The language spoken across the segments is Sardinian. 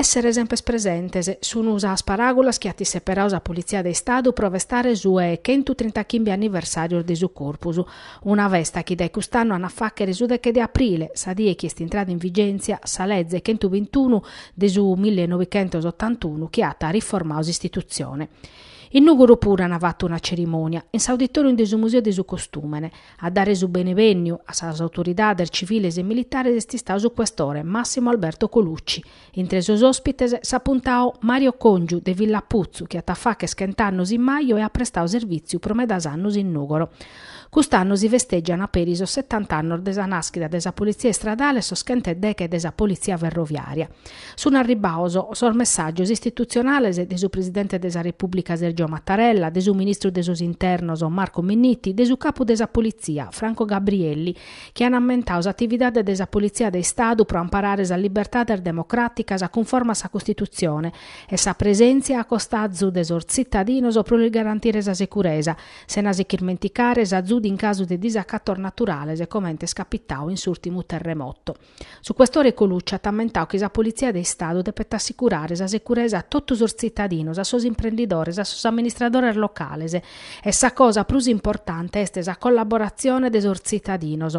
Essere semper presentes sun sas paràgulas chi at isseperadu sa Politzia de Istadu pro festare su 'e chentu trinta chimbe anniversàrios de su Corpus. Una festa chi dae cust'annu an a fàghere su deche de aprile, sa die chi est intrada in vigèntzia sa leze chentubintunu de su milli e novichentos otantunu chi at riformadu s'istitutzione. In Nùgoro puru an fatu una cerimònia, in s'auditòrium de su Museu de su Costùmene. A dare su benevènniu a sas autoridades civiles e militares est istadu su questore Massimo Alberto Colucci, Intre sos òspites s'apuntadu Mario Còngiu de Villaputzu chi at a fàcher chent'annos in maju e at prestadu servìtziu pro medas annos in Nùgoro. Cust'annu si festègian peri sos setant'annos de sa nàschida de sa Politzia Istradale e sos chent'e deghe de sa Politzia Ferroviària. Sun arribbados sos messàgios istitutzionales de su presidente de sa Repùblica Sergio Mattarella, de su ministru de sos internos Marco Minniti, de su capu de sa Politzia Franco Gabrielli, chi an ammentau s'atividade de sa Politzia de Istadu pro amparare sas libertades democràticas cunforma a sa Costitutzione e sa presèntzia a costazu de sos tzitadinos pro lis garantire sa seguresa, sena si ch'irmenticare s'azudu in casu de disacatos naturales comente est capitau in s'ùrtimu terremoto. Su questore Colucci at ammentau chi sa Politzia de Istadu depet assicurare sa securesa a totu sos tzitadinos, a sos imprendidores, a sos amministradores locales e sa cosa prus importante est sa collaboratzione de sos tzitadinos.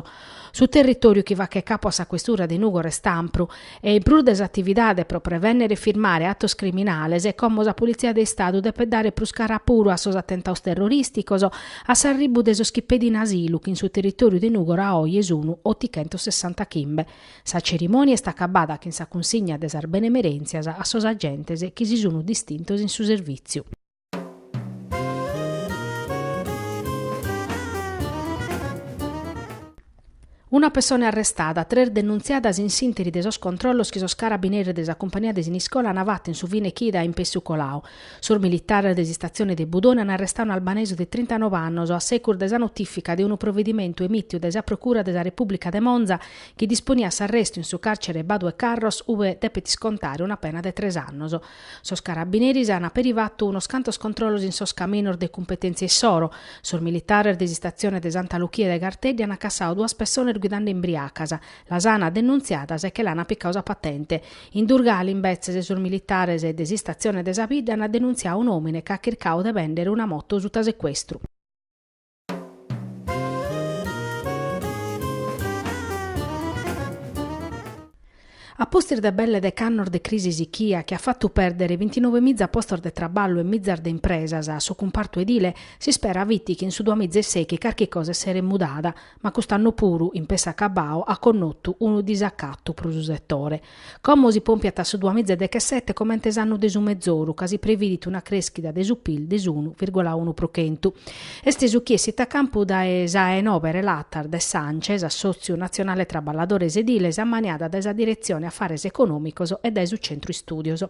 Su territòriu chi faghet capu a sa questura de Nùgoro est ampru e in prus de s'atividade pro prevènnere e firmare atos criminales, como sa Politzia de Istadu depet dare prus cara puru a sos atentados terrorìsticos, A s'arribbu de sos chi pedin asilu chi in su territoriu de Nugoro a oje sunu otichentossessantachimbe. Sa cerimonia est acabada chin sa cunsigna de sas benemerentzias a sos agentes chi si sunu distintos in su servìtziu. Una pessone arrestada, tres denuntziadas in s'interi de sos controllos chi sos carabineris de sa cumpania de Siniscola an fatu in su fine chida in pessu colau. Sos militares de s'istatzione de Budone an arrestau un'albanesu de trintanove annos a segus de sa notifica de unu provedimentu emitiu dae sa Procura de sa Repubblica de Monza chi disponiat s'arrestu in su carcere Badu 'e Carros ue depet iscontare una pena de tres annos. Sos carabineris an peri fatu unos cantos controllos in sos caminos de cumpetèntzia issoro. Sos militares de s'istatzione de Santa Luchia de Garteddi an cassadu duas pessones guidende imbriacas, las an denuntziadas e che l'an picadu sa patente. In Durgali, imbetzes, sos militares de s'istatzione de sa bidda an denuntziadu un'òmine chi at chircadu de bèndere una moto suta secuestru. A pustis de belle dec'annos de crisi sichia chi at fatu pèrdere bintinove miza postos de traballu e mizas de impresas a su cumpartu edile, s'ispera fit chi in su duamiza e sèichi carchi cosa esseret mudada, ma cust'annu puru, in pess'acabau, at connotu unu disacatu pro su setore. Como si pompiat su duamiza e dechesete comente s'annu de su mezoru, ca si previdit una crèschida de su pil de s'unu virgola unu pro chentu. Est su chi essit a campu dae sa 'e nobe relatas de s'Ance, s'Assòtziu Natzionale Traballadores Ediles, ammaniada dae sa Diretzione Afares Econòmicos e dae su Centru Istùdios.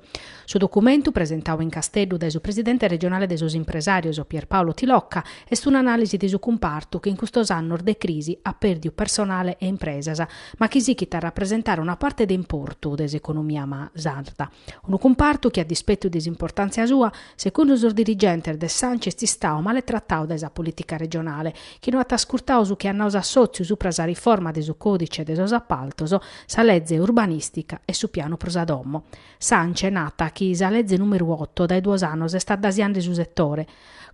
Su documentu, presentau in Casteddu dae su presidente regionale de sos impresàrios Pierpaolo Tilocca, est un'anàlisi de su cumpartu chi in custos annos de crisi at pèrdiu personale e impresas, ma chi sichit a rapresentare una parte de importu de s'economia sarda, unu cumpartu chi a dispetu de s'importàntzia sua, secundu sos dirigentes de s'Ance est istau male tratau dae sa polìtica regionale, chi no at ascurtau su chi at nau s'assòtziu supra sa riforma de su còdice de sos apaltos, sa leze urbanìstica e su pianu pro sa domo. S'Ance nat chi sa leze nùmeru oto dae duos annos est addasiande su setore,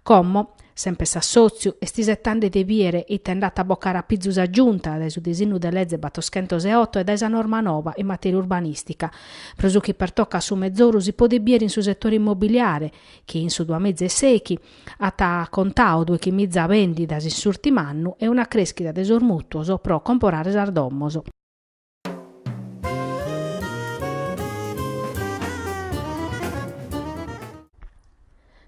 Como, sempre s'assòtziu, est isetande de bìere ite nd'at a bocare a pizu sa Giunta dae su disinnu de leze battoschentos e oto e dae sa norma nova in matèria urbanìstica. Pro su chi pertocat su mezoru si podet bìere in su setore immobiliare chi in su duamiza e sèichi at contau dòichi miza bèndidas in s'ùrtimu annu e una crèschida de sos mùtuos pro comporare sas domos.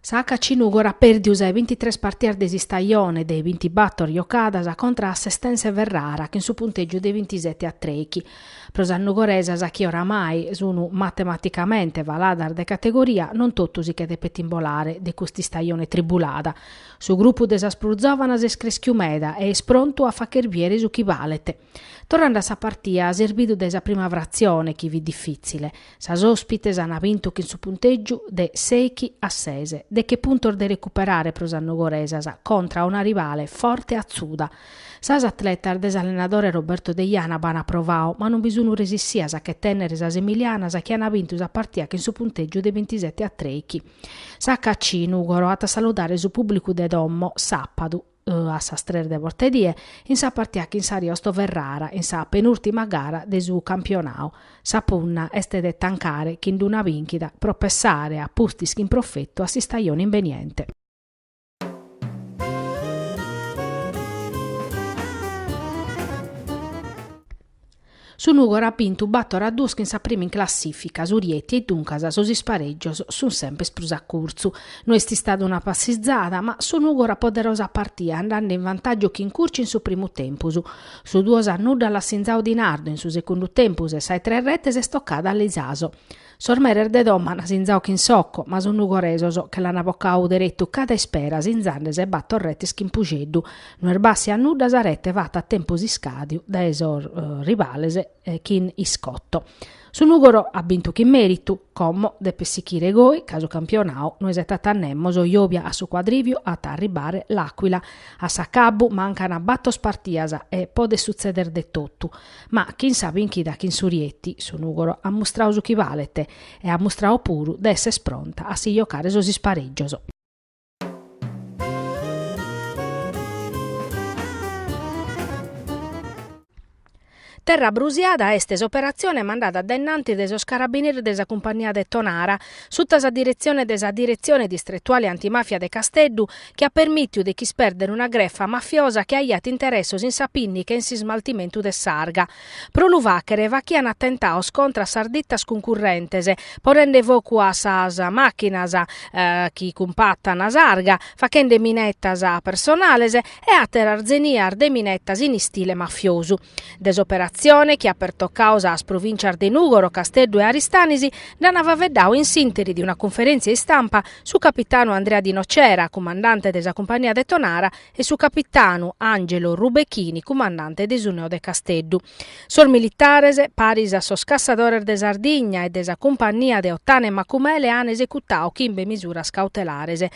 Sa HC Nùgoro at pèrdiu sa 'e bintitres partias de s'istajone, de bintibator jocadas, contra a s'Estense Ferrara, chin su puntègiu de bintisete a trèichi. Pro sas nugoresas chi oramai sun matematicamente faladas de categoria, non totu si che depet imbolare de cust'istajone tribulada. Su grupu de sas prus zòvanas est crèschiu meda e est prontu a fàcher bìere su chi balet. Torrande a sa partia, s'est bidu dae sa prima fratzione chi fit difìtzile, sas òspites ant bintu chin su puntègiu de sèichi a ses, deche puntos de recuperare pro sas nugoresas contra a una rivale forte e atzuda. Sas atletas de s'allenadore Roberto Deiana b'ant provau ma non bi sun resissias a che tènnere sas emilianas chi ant bintu sa partia chin su puntègiu de bintisete a trèichi. Sa HC Nùgoro at a saludare su pùblicu de domo sàpadu. a sas tres de bortedie, in sa partia chin s'Ariosto Ferrara in sa penùrtima gara de su campionau. Sa punna est de tancare chin d'una bìnchida pro pessare a pustis chin profetu a s'istajone imbeniente. Su Nùgoro at bintu bàtoro a duos chin sa prima in classìfica, su Rieti, e duncas sos isparègios sunt sempes prus a curtzu. No est istada una passizada, ma su Nùgoro at poderadu sa partida andende in vantàgiu chin Curcio in su primu tempus. Su duos a nudda l'at sinzadu Di Nardo in su segundu tempus e sa 'e tres retes est tocada a Lisaso. Sos meres de domo an sinzau chin Socco, ma sos nugoresos che l'an bocau derettu cada ispera sinzande sa 'e battor rettes chin Puxeddu. No est bàssia a nudda sa rette fatta a tempus iscadiu dae sos rivales chin Iscotto. Su Nugoro at bintu chin meritu, como depet sichire goi ca su campionau no isetat a nemos. Jobia a su Quadriviu at a arribbare l'Aquila. A s'accabbu mancan battos partias e podet suzzeder de tottu. Ma chin sa bìnchida chin su Rieti, su Nùgoro at mustradu su chi balet e at mustradu puru de esser pronta a si jocare sos isparègios. Terra brusiada est s'operatzione mandada dae innantis dae sos carabineris de sa Cumpagnia de Tonara, suta sa diretzione de sa Diretzione Distretuale Antimafia de Casteddu, chi at permìtiu de ch'ispèrdere una grefa mafiosa chi aiat interessos in sa pinnica e in s'ismaltimentu de s'arga. Pro lu fàghere faghiant atentados contra a sas ditas cuncurrentes, ponende focu a sas màchinas chi cumpàtana s'arga, faghende minetas personales e àteras zenias de minetas in istile mafiosu. De s'operatzione, chi at pertocadu sas provìntzias de Nùgoro, Casteddu e Aristanis, nd'an faveddadu in s'ìnteri de una cunferèntzia istampa su capitanu Andrea Di Nocera, cumandante de sa cumpagnia de Tonara, e su capitanu Angelo Rubechini, cumandante de su Neo de Casteddu. Sos militares, paris a sos cassadores de Sardigna e de sa cumpagnia de Ottana e Macumele, an esecutadu chimbe misuras cautelares,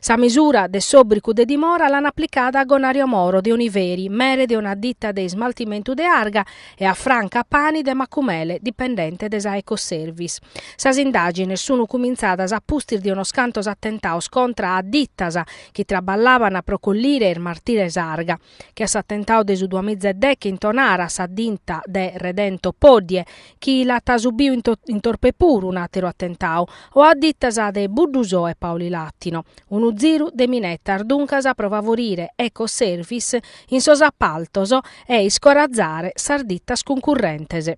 Sa misura de s'òbricu de dimora l'an aplicada a Gonario Moro de Oniveri, mere de una ditta de ismaltimentu de arga, e a Franca Pani de Macumele, dipendente de sa Ecoservice. Sas indàgines sunu cumintzadas a pustis de unos cantos atentados contra a dittas chi traballaban pro collire e ismartire s'arga. che a s'atentau de su duamiza e deche in Tonara a sa dita de Redento Poddie, chi l'at subiu in Torpè puru un'àteru atentau, o a ditas de Buddusò e Paulilatino. Unu ziru de minetas, duncas, pro favorire Ecoservice in sos apaltos e iscorazare sas ditas cuncurrentes.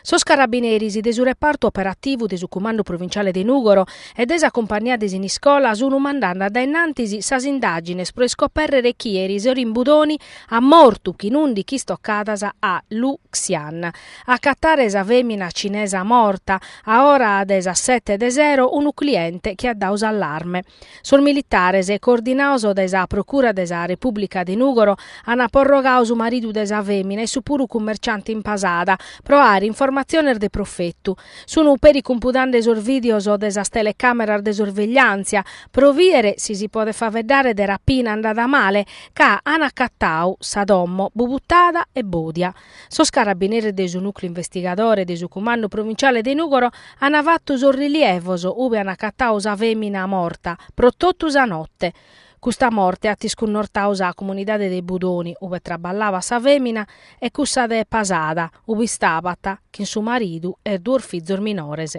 Sos carabineris de su repartu operativu de su Cumandu Provinciale de Nùgoro e de sa Cumpagnia de Siniscola sun mandende dae innantis sas indàgines pro iscopèrrere chie eris sero in Budoni at mortu chin ùndichi istocadas a Lu Xian. A acatare sa fèmina cinesa morta, a ora de sas sete de sero, unu cliente chi at dadu s'allarme. Sos militares, coordinaos dae sa Procura de sa Repùblica de Nùgoro, ant porrogau su maridu de sa fèmina, issu puru cummerciante in Pasada pro àere informatziones de profetu. Sun peri cumpudande sos vìdeos de sas telecàmeras de sorvegliàntzia pro bìdere si si podet faveddare de rapina andada male, ca ant acatau sa domo bubutada e bòdia. Sos carabineris de su Nùcleu Investigadore de su Cumandu Provinciale de Nùgoro ant fatu sos rilievos ube ant acatau sa fèmina morta pro totu sa note. Custa morte at iscunnortau sa comunidade de Budoni, ube traballabat sa fèmina e cussa de Pasada, ube istabat chin su maridu e duos fizos minores.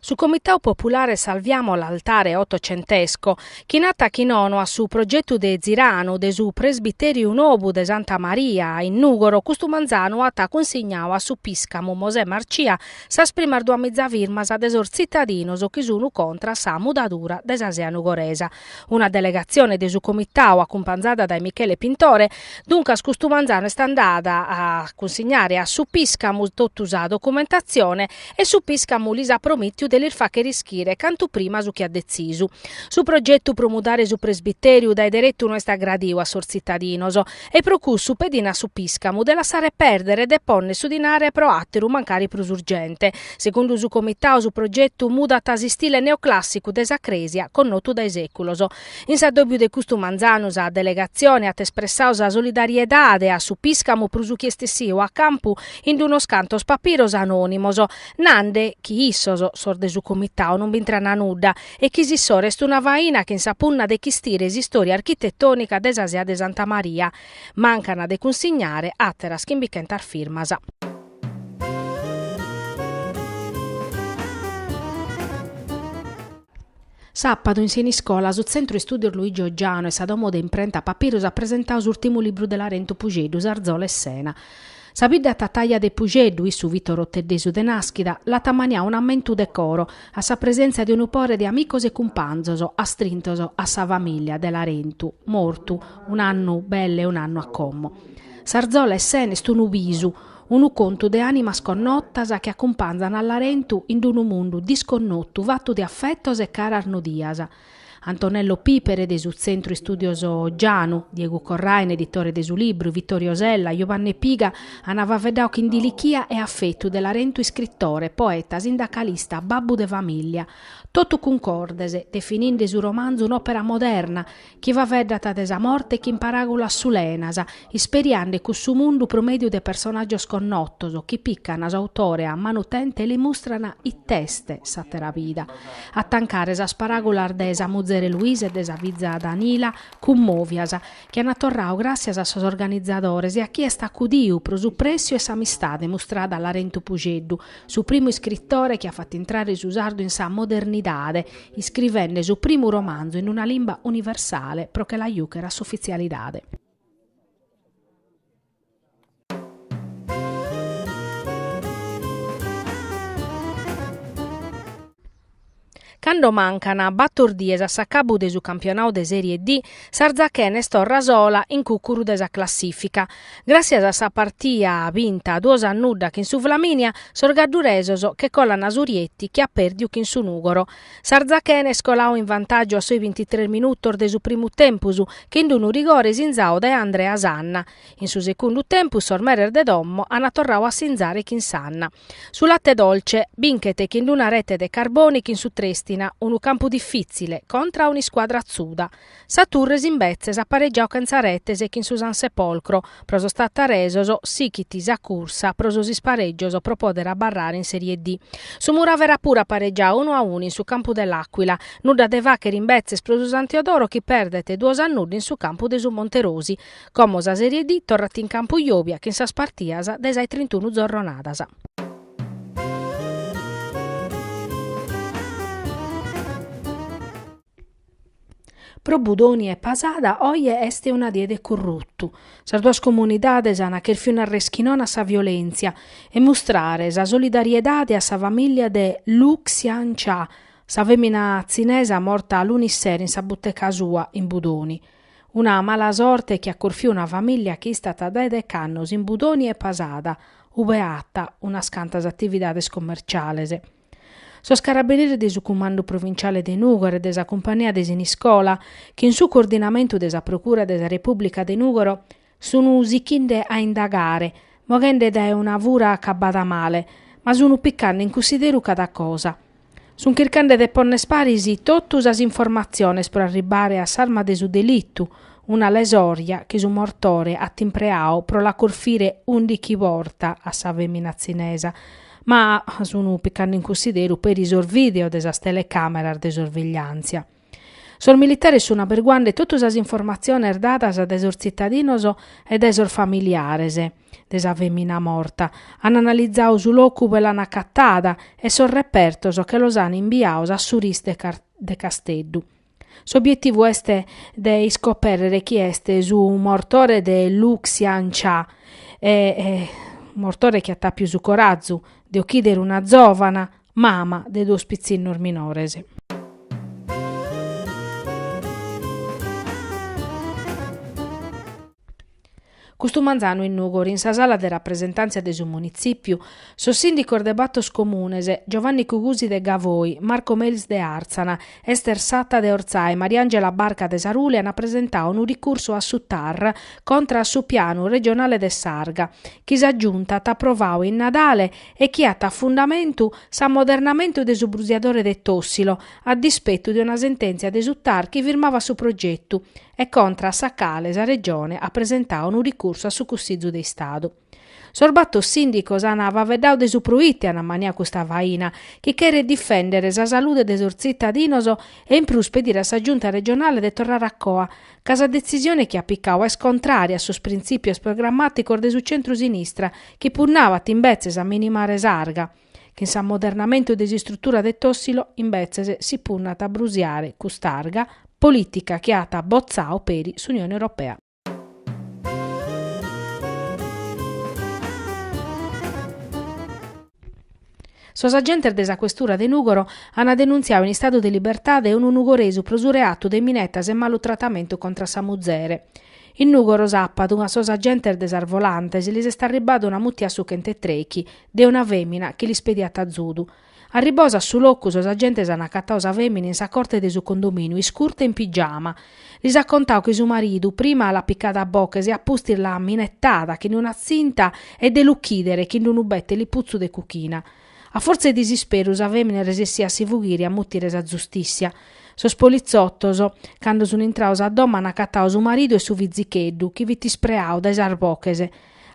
Su Comitau Populare Salviamo l'Altare Ottocentesco, chi nata chi nono a su progetu de Ziranu de su presbitèriu nobu de Santa Maria in Nùgoro, custu manzanu at cunsignau a su piscamu Mosè Marcia sas primas duamiza firmas de sos tzitadinos chi sunu contra sa mudadura de sa sea nugoresa. Una delegatzione de su Comitau acumpanzada dae Michele Pintore, duncas custu manzanu est andada a cunsignare a su Piscamu totu sa documentatzione e su Piscamu lis at promìtiu de lis fàchere ischire cantu prima su chi at detzisu. Su progetu pro mudare su presbitèriu dae deretu no est agradiu a sos tzitadinos, E pro cussu pedin a su Piscamu de lassare pèrdere e de pònnere su dinare pro àteru mancari prus urgente. Segundu su Comitau su progetu mudat s'istile neoclàssicu de sa crèsia connotu dae sèculos. In s'addòbiu de custu manzanu sa delegatzione at espressau sa solidariedade a su Piscamu pro su chi est essiu a campu in d'unos cantos papiros anònimos, nande chi issos, sos de su Comitau, non b'intrana nudda e chi s'issoro est una faina chin sa punna de chistire s'istória architetònica de sa sea de Santa Maria, mancan de cunsignare àteras chimbichentas firmas. Sàpadu in Siniscola, su Tzentru Istúdios Luigi Ogianu e sa Domo de Imprenta Papiros at presentau s'ùrtimu libru de Larentu Puxeddu, S'Arzola 'e Sena. Sa bidda tataja de Puxeddu, issu fit oroteddesu de nàschida, l'at ammaniau un'ammentu de coro, a sa presentzia de unu pore de amicos e cumpanzos, astrintos a sa famìllia, de Larentu, mortu, un'annu belle e un'annu a como. S'arzola 'e Sena est unu bisu, unu contu de ànimas connotas chi acumpanzan a Larentu in d-unu mundu disconnotu fatu de affetos e caras nodias, Antonello Pipere de su Tzentru Istùdios Ogianu, Diegu Corraine, editore de su libru, Vittorio Sella, Jubanne Piga, ana faveddau chin dilichia e afetu de Larentu iscritore, poeta, sindacalista, babbu de famìllia. Totu cuncordes, defininde su romanzu un'òpera moderna, chi faveddat de sa morte chin paràgulas sulenas, isperiende cussu mundu pro mèdiu de personàgios connotos chi pican s'autore a manu tente e li mustran it'est s'àtera vida. A tancare sas paràgulas de sa muzere Luisa e de sa fiza Danila, cummòvias, chi an torradu gràssias a sos organizadores e a chie est acudidu pro su prèssiu e s'amistade mustrada a Larentu Pusceddu, su primu iscritore chi at fatu intrare su sardu in sa modernidade, iscrivende su primu romanzu in una limba universale pro che la jùchere a s'ufitzialidade. Cando mancan bator dies a s'acabu de su campionau de Sèrie D, s'Arzachena est torra sola in cùcuru de sa classìfica. Gràssias a sa partia binta duos a nudda chin su Flaminia, sos gadduresos che colan a su Rieti chi at pèrdiu chin su Nùgoro, S'Arzachena est coladu in vantàgiu a sos bintitres minutos de su primu tempus chin d-unu rigore sinzadu dae Andrea Sanna. In su segundu tempus sos meres de domo ant torradu a sinzare chin Sanna. Su Latte Dolce binchet chin d-una rete de Carboni chin su Trèstina, unu campu difìtzile, contra a un'iscuadra atzuda. Sa Torres imbetzes at paregiadu chentza retes chin su San Sepolcro, pro sos tattaresos sichit sa cursa pro sos isparegios pro poder abarrare in Serie D. Su Muravera puru at paregiadu unu a unu in su campu de l'Aquila, nudda de fàchere imbetzes pro su San Teodoro chi perdet duos a nudda in su campu de su Monterosi. Como sa Serie D torrat in campu Jobia chin sas partidas de sas trintunu zorronadas. Pro Budoni e Posada oje est una die de corrutu. Sas duas comunidades an cherfiu nàrrere chi nono a sa violèntzia e mustrare sa solidariedade a sa famìllia de Lu Xian Cha, sa fèmina tzinesa morta lunis sero in sa buteca sua in Budoni. Una mala sorte chi at corfiu una famìllia chi istat dae deche annos in Budoni e Posada, ue at unas cantas atividades commerciales. Sos carabinieris de su Cumandu Provinciale de Nùgoro e de sa Cumpania de Siniscola, chin su coordinamentu de sa Procura de sa Repùblica de Nùgoro, sun sichende a indagare, moghende dae una fura acabada male, ma sun picande in cussideru cada cosa. Sun chircande de ponner paris totu sas informatziones pro arribbare a s'arma de su delitu, una lesòrgia chi su mortore at impreadu pro la corfire ùndighi bortas a sa fèmina tzinesa, ma sun picande in cussideru peri sos vìdeos de sas telecàmeras de sorvegliàntzia. Sos militares sun aberguande totu sas informatziones dadas dae sos tzitadinos e dae sos familiares de sa fèmina morta, an analizadu su locu ue l'an acatada e sos repertos che los an imbiados a su RIS de Casteddu. S'obietivu est de iscoperrere chi est su mortore de Lu Xian Cha e mortore chi at apiu su corazu de ochidere una zovana mama de duos pitzinnos minores. Custu manzanu in Nùgoro in sa sala de rapresentàntzia de su Munitzìpiu, sos sìndicos de batos comunes, Giovanni Cugusi de Gavoi, Marco Melis de Àrtzana, Ester Satta de Ortzai, Mariangela Barca de Sarule ant presentadu unu ricursu a su TAR contra a su pianu regionale de s'arga, chi sa Giunta at aprovadu in Nadale e chi at a fundamentu s'ammodernamentu de su brusiadore de Tòssilo, a dispetu de una sentèntzia de su TAR chi firmavat su progetu, e contra a sa cale sa Regione at presentadu unu ricursu a su Cussizu de Istadu. Sos batos sìndicos ant faveddadu de su proite ant ammaniadu custa faina, chi cheret difèndere sa salude de sos tzitadinos e in prus pedire a sa Giunta regionale de torrare a coa, ca sa detzisione chi at picadu est contrària a sos printzìpios programmàticos de su centru-sinistra chi punnabat imbetzes a minimare s'arga. Chin s'ammodernamentu de s'istrutura de Tossilo, imbetzes, si punnat a brusiare cust'arga politica chi at botzau peri s'Unione Europea. Sos agentes de sa questura de Nùgoro an denuntziau in istadu de libertade unu nugoresu pro su reatu de minetas e malu tratamentu contra sa muzere. In Nùgoro sàpadu a sos agentes de sas volantes lis est arribbada una mutia a su chent'e trèichi de una fèmina chi lis pediat azudu. Arribbados a su locu sos agentes an acatadu sa fèmina in sa corte de su condomìniu iscurta e in pigiama. Lis at contadu chi su maridu prima l'at picada a boches e a pustis l'at minetada chin d-una tzinta e de l'uchìdere chin d-unu bete liputzu de cuchina. A fortza 'e disisperu sa femina est resessia a si fughire e a mutire sa zustissia. Sos polizottos, cando sun intrados a domo an acatadu su maridu e su fizicheddu, chi fit ispreadu dae sas boches.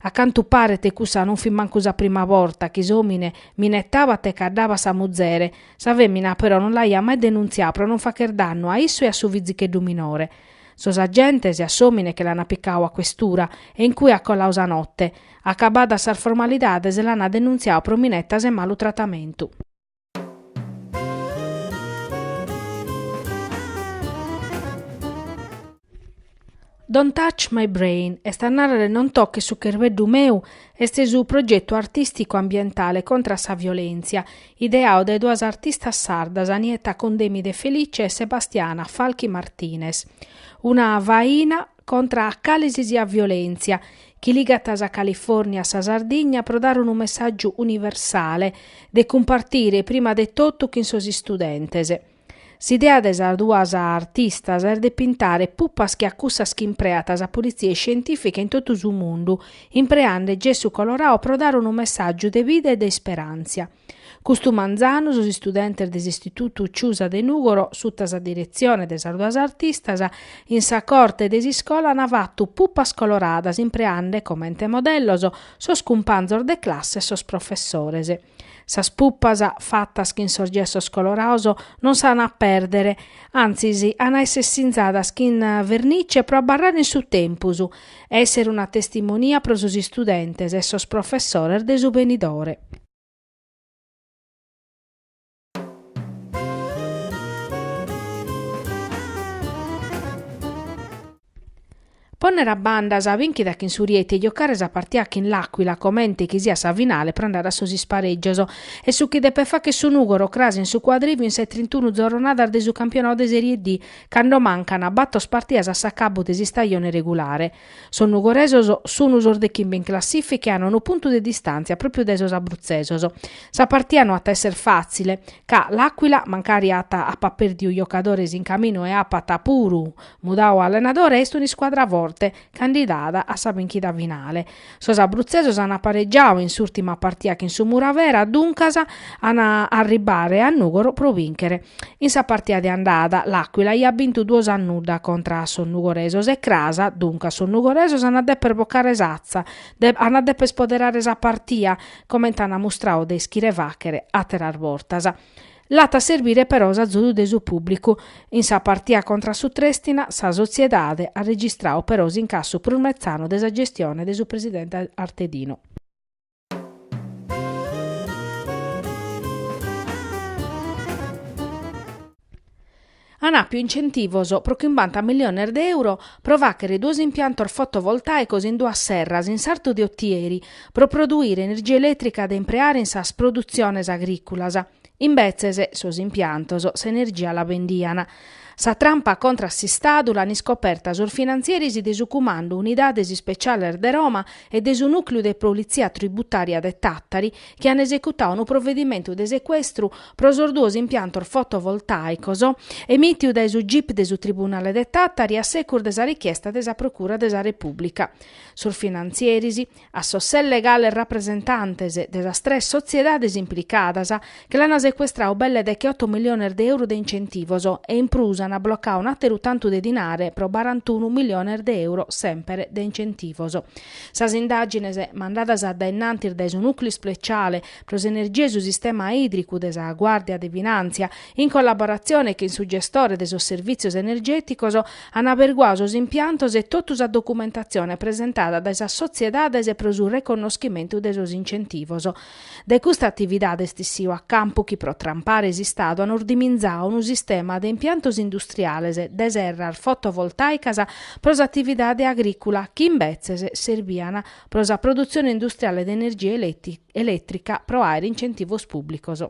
A cantu paret cussa non fit mancu sa prima borta chi s'omine minetabat e caddabat sa muzere, sa femina però non l'aiat mai denuntziadu pro non facher dannu a issu e a su fizicheddu minore. Sos agentes a s'omine che l'ana picadu a questura e in cue at colladu sa notte, Acabadas sas formalidades l'ana denuntziadu pro minetas e malu tratamentu. Don't Touch My Brain, est a narrer Non toches su cherbeddu meu, est su progetu artìsticu ambientale contra a sa violèntzia, ideadu dae duas artistas sardas, Nietta Condemi de Felice e Sebastiana Falchi Martinez. Una faina contra a cale si siat violèntzia, chi ligat sa Califòrnia a sa Sardigna pro dare unu messàgiu universale, de cumpartire prima de totu chin sos istudentes. S'idea de sas duas artistas est de pintare pupas che a cussas chi impreat sa politzia iscientìfica in totu su mundu, impreande gessu colorau pro dare unu messàgiu de bida e de isperàntzia. Custu manzanu sos istudentes de s'Istitutu Ciusa de Nùgoro, suta sa diretzione de sas duas artistas, in sa corte de s'iscola an fatu pupas coloradas impreande comente modellos sos cumpanzos de classe e sos professores. Sas pupas, fatas chin sos gessos coloraos, non s'an a pèrdere, antzis an a èssere sinzadas chin vernice pro abarrare in su tempus e èssere una testimonia pro sos istudentes e sos professores de su benidore. Pònnere a banda sa bìnchida chin su Rieti e giocare sa partia chin l'Aquila comente chi siat sa finale pro andare a sos isparègios est su chi depet fagher su Nùgoro cras in su Cuadrìviu in sas trintunu zorronadas de su campionadu de Serie D cando mancana batos partidas a s'acabbu de s'istajone regulare. Sos nugoresos sun sos de chimbe in classìfica e an unu puntu de distàntzia pròpiu dae sos abrutzesos. Sa partia no at a èssere fàtzile, ca L'Aquila, mancari at apat pèrdiu giocadores in caminu e apat puru mudau allenadore, est un'iscuadra forte, candidada a sa bìnchida finale. Sos abrutzesos an aparegiau in s'ùrtima partia chin su Muravera, duncas an a arribare a Nùgoro pro bìnchere. In sa partia de andada l'Aquila aiat bintu duos a nudda contra a sos nugoresos e cras, duncas sos nugoresos an a dèpere bocare s'atza, an a dèpere spoderare sa partia, comente an mustrau de ischire fàghere àteras bortas. L'at a serbire però s'azudu de su pùblicu. In sa partia contra a su Trèstina, sa sotziedade at registrau però s'incassu prus metzanu de sa gestione de su presidente Artedino. an àpiu incentivos pro chimbanta milliones de euro pro fàghere duos impiantos fotovoltàicos in duas serras in sartu de Otieri pro produire energia elètrica de impreare in sas produtziones agrìculas. Imbetzes, sos impiantos s'energia la bendian. Sa trampa contra a s'Istadu l'an iscoperta sos finantzieris de su Cumandu Unidades Ispeciales de Roma e de su Nùcliu de Politzia Tributària de Tàtari, chi an esecutau unu provedimentu de secuestru pro sos duos impiantos fotovoltàicos emìtiu dae su gip de su tribunale de Tàtari a segus de sa richiesta de sa procura de sa Repùblica. Sos finantzieris, a sos ses legales rapresentantes de sas tres sotziedades implicadas, che l'an secuestrau belle de che oto miliones de euro de incentivos e in prus an blocau un'àteru tantu de dinare pro barantunu miliones de euro semper de incentivos. Sas indàgines mandadas dae innantis dae su Nùcleu Ispeciale pro s'Energia e su Sistema Ìdricu de sa Guàrdia de Finàntzia, in collaboratzione chin su gestore de sos servìtzios energèticos, an aberguau sos impiantos e totu sa documentatzione presentada dae sas sotziedades pro su reconnoschimentu de sos incentivos De custa atividade est issiu a campu chi pro trampare s'Istadu an ordiminzau unu sistema de impiantos industriales de serras fotovoltàicas pro s'atividade agrìcula chi imbetzes serbian pro sa produtzione industriale de energia elètrica pro àere incentivos pùblicos.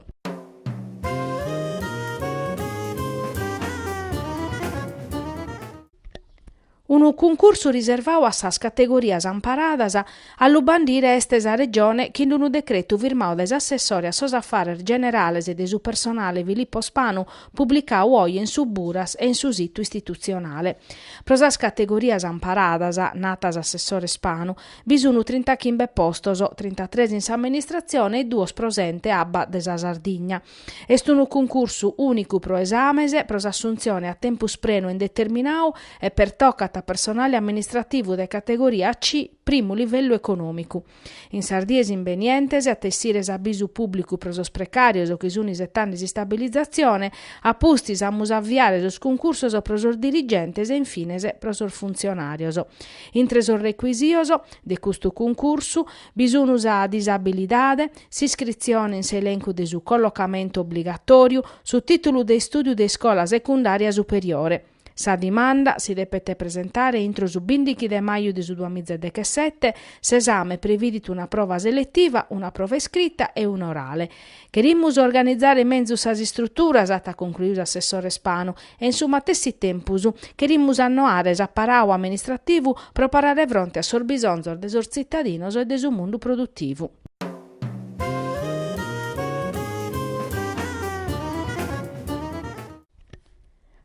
Unu cuncursu riservau a sas categorias amparadas a lu bandire est sa Regione chin d'unu decretu firmau dae s'assessore a sos affares generales e de su personale Filippo Spanu publicau oje in su Buras e in su situ istitutzionale. Pro sas categorias amparadas, nat s'assessore Spanu, bi sun trintachimbe postos, trintatres in s'amministratzione e duos pro s'Ente Abba de sa Sardigna. Est unu cuncursu ùnicu pro esames pro s'assuntzione a tempus prenu e indeterminau e pertocat a personale amministrativu de categoria C, primu livellu econòmicu. In sas dies imbenientes at a essire s'abisu pùblicu pro sos precàrios chi sunt isetande s'istabilizatzione, a pustis amus a aviare sos cuncursos pro sos dirigentes e in fines pro sos funtzionàrios. Intre sos recuisios de custu cuncursu. Bi sunu sa disabilidade, s'iscritzione in s'elencu de su collocamentu obligatòriu, su tìtulu de istùdiu de iscola secundària superiore. Sa dimanda si depet presentare intro su bìndichi de maju de su duamìgia e dechesete, s'esame previdit una prova seletiva, una prova iscrita e una orale. Cherimus organizare menzus sas istruturas, at concluiu s'assessore Spanu, e in su matessi tempus cherimus annoare s'aparau amministrativu pro parare fronte a sos bisonzos de sos tzitadinos e de su mundu produtivu.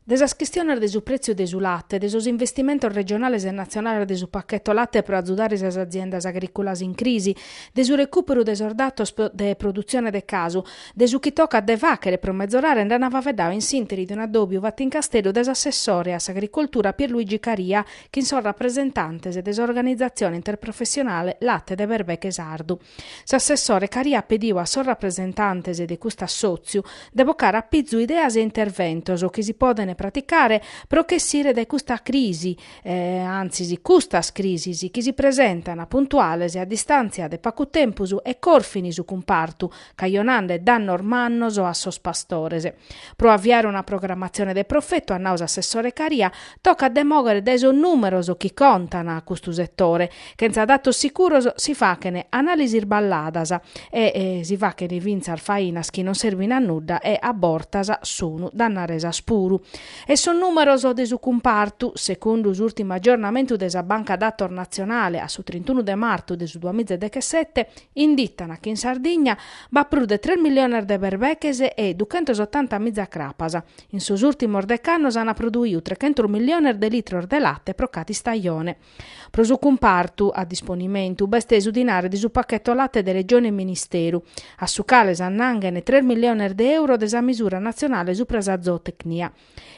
De sas chistiones de su pretziu de su late, de sos investimentos regionales e natzionales de su pacchetto late pro azudare sas aziendas agriculas in crisi, de su recuperu de sos datos de produtzione de casu, De su chi tocat de fàchere pro mezorare nd'an faveddau in s'ìnteri de un'adòbiu fatu in Casteddu de s'assessore a s'Agricoltura Pierluigi Caria chin sos rapresentantes de s'organizatzione interprofessionale Latte de Berbeche Sardu. S'assessore Caria at pediu a sos rapresentantes de custu assòtziu de bocare a pizu ideas e interventos chi si podent praticare pro ch'essire dae custa crisi, antzis custas crisis, chi si presentana puntuales a distàntzia de pagu tempus e corfin su cumpartu, cajonande dannos mannos a sos pastores. Pro aviare una programatzione de profetu, at nau s'assessore Caria, tocat de mòghere dae sos nùmeros chi contan custu setore. Chentza datos sicuros si fachen anàlisis sballadas e si fachen fintzas fainas chi non serbin a nudda e a bortas sun dannaresas puru. E sos nùmeros de su cumpartu, secundu s'ùrtimu agiornamentu de sa Banca Datos Natzionale a su trintunu de martu de su duamiza e dechesete, Inditan chi in Sardigna b'at prus de tres milliones de berbeches e duchentos otanta miza crapas. In sos ùrtimos dec'annos ant produiu trechentos milliones de litros de late pro cada istajone. Pro su cumpartu a disponimentu b'est su dinare de su pacheto late de Regione e Ministeru, a su cale s'annanghen tres milliones de euro de sa misura natzionale supra sa zootecnia.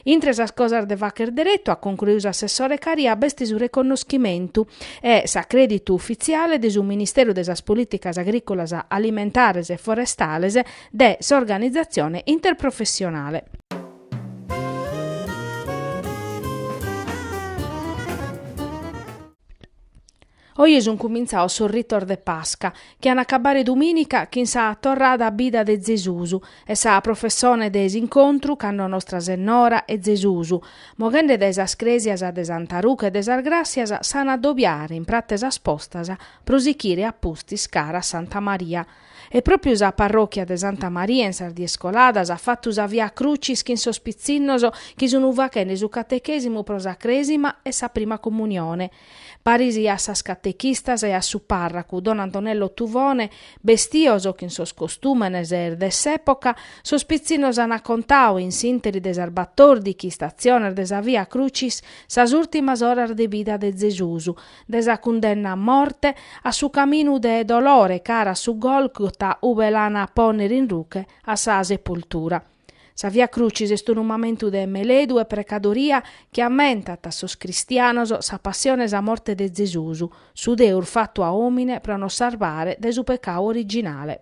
Intre sas cosas de facher deretu, at concluiu s'assessore Caria, b'est su reconnoschimentu e s'acrèditu ufitziale de su Ministeru de sas Polìticas Agrìcolas, Alimentares e Forestales de s'organizatzione interprofessionale. Oje sunt cumintzaos sos ritos de Pasca, chi an a acabare dumìnica chin sa torrada a bida de Zesus e sa professone de s'incontru cando Nostra Sennora e Zesus, moghende dae sas crèsias de Santa Ruche e de sas Gràssias, s'an a adobiare in prat'e sas Postas pro sichire a pustis cara a Santa Maria. E pròpiu sa parròchia de Santa Maria in sas dies coladas at fatu sa Via Crucis chin sos pitzinnos chi sun fachende su catechèsimu pro sa Crèsima e sa Prima Comunione. Parisi a sas catechistas e a su pàrracu don Antonello Tuvone, bestios chin sos costùmenes de s'època, sos pitzinnos ant contau, in s'ìnteri de sas batòrdighi statziones de sa Via Crucis, sas ùrtimas oras de vida de Zesusu, de sa cundenna a morte, a su caminu de dolore cara a su Gòlgota ube l'ant a pònnere in ruche a sa sepoltura. Sa Via Crucis est unu mamentu de meledu e precadoria chi ammentat a sos cristianos sa passione e sa morte de Zesus, su Deus fatu a omine pro nos sarbare dae su pecau originale.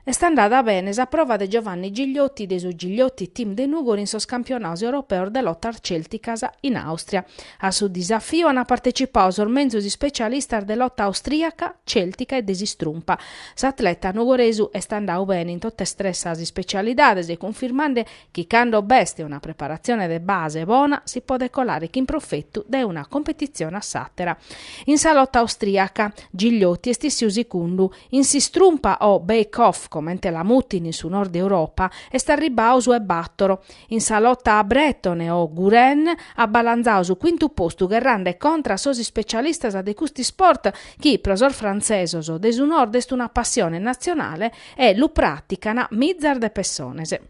Est andada bene sa prova de Giovanni Gigliotti de su Gigliotti Team de Nùgoro in sos campionados europeos de lotas cèlticas in Àustria. A su disafiu ant partecipadu sos menzus ispecialistas de lota austriaca, cèltica e de s'istrumpa. S'atleta nugoresu est andadu bene in totas tres sas ispecialidades, cunfirmande chi cando b'est una preparatzione de base bona si podet colare chin profetu dae una competitzione a s'àtera. In sa lota austriaca, Gigliotti est issiu sicundu In s'istrumpa o Backhold, comente la mutin in su Nord Europa, est arribbau su 'e batoro. In sa lota bretone o Gouren at balanzau su cuintu postu gherrande contra a sos ispecialistas de custu isport chi, pro sos frantzesos de su Nord est una passione natzionale e lu pràtican mizas de pessones.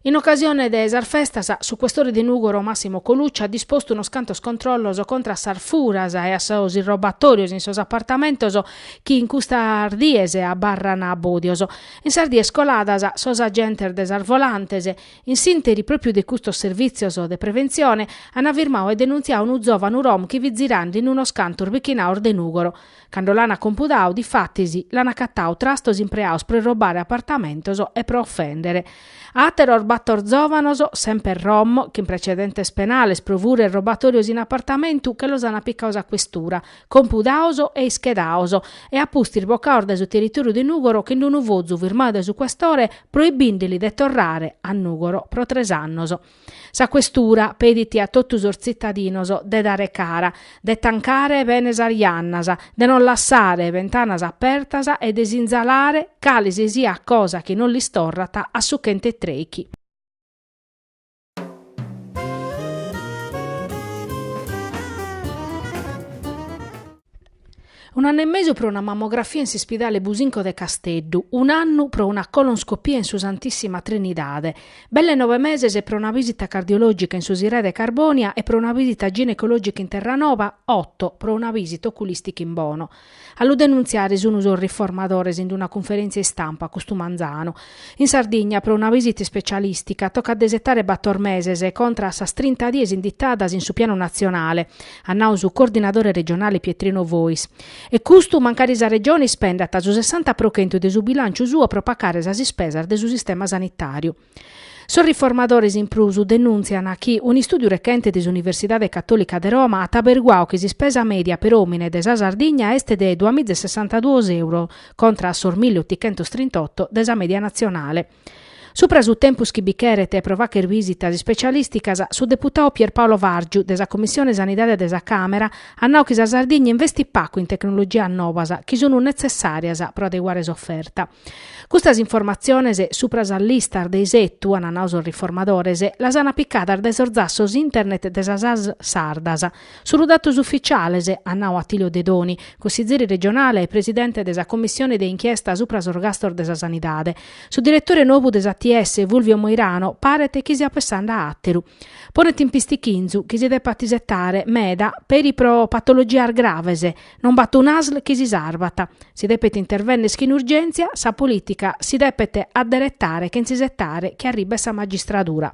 In ocasione de sas festas, su questore de Nùgoro Massimo Colucci at dispostu unos cantos controllos contra a sas furas e a sos irrobatòrios in sos apartamentos chi in custas dies abarran bòdios. In sas dies coladas, sos agentes de sas volantes, in s'ìnteri pròpiu de custos servìtzios de preventzione, ant firmadu e denuntziadu unu zòvanu rom chi fit zirande in unos cantos bichinados de Nùgoro. Cando l'ana compudadu, difatis, l'ana acatadu trastos impreados pro irrobare apartamentos e pro ofendere. Ateros bator zovanos, semper rom, chin precedentes penales pro fura e irrobatorios in apartamentu che los ana picados a questura, compudados e ischedados, e a pustis bocados dae su territoriu de Nugoro chin d'unu fozu firmadu dae su questore proibindeli de torrare a Nugoro pro tres annos. Sa questura pedit a totu sos tzitadinos de dare cara, de tancare bene sas jannas, de non lassare bentanas apertas e de sinzalare cale si siat cosa chi non lis torrat a su chent'e trechi. Un'annu e mesu pro una mammografia in s'ispidale Businco de Casteddu, un'annu pro una colonscopia in su Santissima Trinidade, belle nove meses pro una visita cardiologica in su Sirai de Carbonia e pro una visita ginecologica in Terranova, otto pro una visita oculistica in Bono. A lu denuntziare sun sos riformadores in una cunferèntzia istampa custu manzanu, In Sardigna, pro una visita ispecialistica, tocat de isetare bator meses, contra a sas trinta dies inditadas in su pianu natzionale, at nau su coordinadore regionale Pietrino Fois. E custu mancari sa Regione ispendat su sessanta pro chentu de su bilànciu suo pro pacare sas ispesas de su sistema sanitàriu. Sos riformadores in prus denùntzian chi un'istùdiu rechente de s'Universidade Catòlica de Roma at aberguadu chi s'ispesa mèdia per òmine de sa Sardigna est de duamiza e sessantaduos euros contra a sos milli otichentos trint'oto de sa media natzionale. Supra su tempus chi bi cheret e pro fagher visitas ispecialìsticas, su deputadu Pier Paolo Vargiu de sa Commissione Sanidade de sa Càmera at nau chi sa Sardigna investit pagu in tecnologias novas chi sunt netzessàrias pro adeguare s'oferta. Custas informatziones supra sas listas de isetu, ant nau sos riformadores, las ant picadas dae sos zassos internet de sas ASL sardas, Sunu datos ufficiales, at nau Attilio Dedoni, cussizeri regionale e presidente de sa commissione de inchiesta supra sos gastos de sa sanidade. Su diretore nobu de s'ATS, Fulvio Moirano, paret chi siat pessende a àteru. Ponet in pistichinzu chi si depat isetare meda peri pro patologias graves, non b'at un'asl chi si sarvat. Si depet intervennere chin urgèntzia, sa polìtica si depet adderetare chentza isetare chi arribet sa magistradura.